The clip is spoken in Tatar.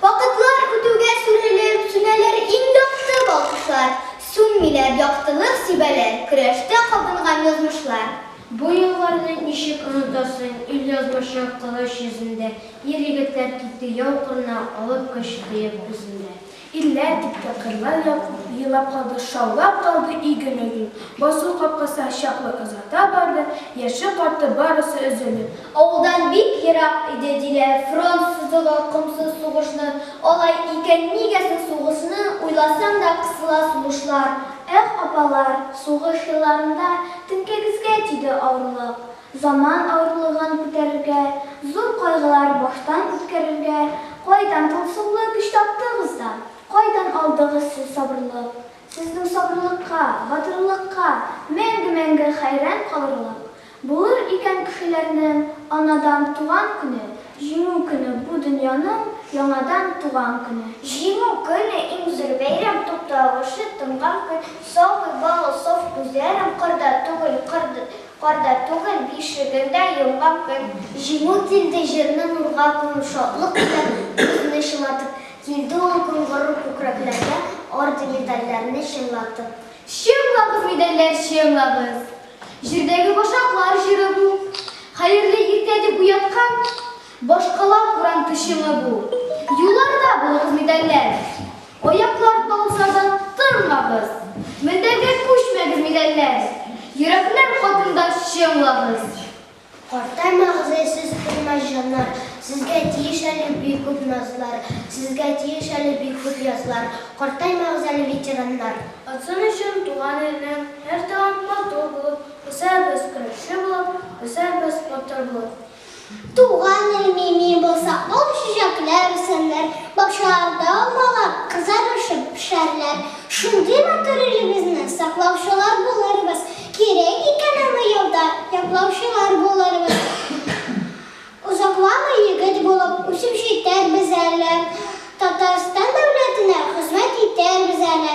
Вакытлар үтүгә сүрелеп сүнәләр иң якты балкышлар, Сүнмиләр яктылык сибәләр көрәштә кабынган язмышлар. Бу елларны ничек онытасың, ил язмышы кылыч йөзендә, Ир-егетләр китте яу кырына, алып көч кыек үзендә. Илләр китте, кырлар елап калды, шаулап калды иген-өем, Басу капкасы чаклы озата барды, яше-карты барысы өзелеп, Авылдан бик ерак иде, диләр, фронт сызыгы комсыз сугышны, алай икән нигә соң сугышны, уйласаң да кысыла сулышлар. Эх, апалар, сугыш елларында теңкәгезгә тиде авырлык, заман авырлыгын күтәрергә, зур кайгылар баштан үткәрергә кайдан тылсымлы көч таптыгыз да, кайдан алдыгыз сез сабырлык? Сезнең сабырлыкка, батырлыкка мәңге-мәңге хәйран калырлык. Булыр икән кешеләрнең анадан туган көне, Җиңү көне, бу дөньяның яңадан туган көне. Җиңү көне, иң зур бәйрәм, тукталышы тынган көн, Сабый балы саф күзләрен кырда түгел, карда түгел, бишегендә йомган көн. Җиңү килде җирне нурга күмеп, шатлык белән күзне чылатып, Килде ул көн горур күкрәкләргә, орден-медальләрне чыңлатып. Чыңлагыз, медальләр, чыңлагыз! Җирдәге башаклар җыры бу. Хәерле иртә дип уяткан Башкала урам пешеме бу. Юлларда булыгыз медальләр, Аяклар талса да тынмагыз. Мендәргә күчмәгез медальләр, Йөрәкләр хатында чыңлагыз. Карта Мәгъзәй сез кыйммәт җаннар, Сезгә тиеш әле бик күп назлар, Сезгә тиеш әле бик күп язлар, Карта Мәгъзәле ветераннар. Атсын өчен туган илнең һәр тагын матур булып, Үсәрбез көрәшче булып, үсәрбез батыр булып. Туган ил мими булса, ул чәчәкләр үсәрләр, Бакчаларда алмалар кызарышып пешәрләр. Шундый матур илебезне саклаучылар булырбыз. Кирәк икән аны ялда яклаучылар булырбыз. Озакламый егет булып үсеп җитәрбез әле, Татарстан дәүләтенә хезмәт итәрбез әле.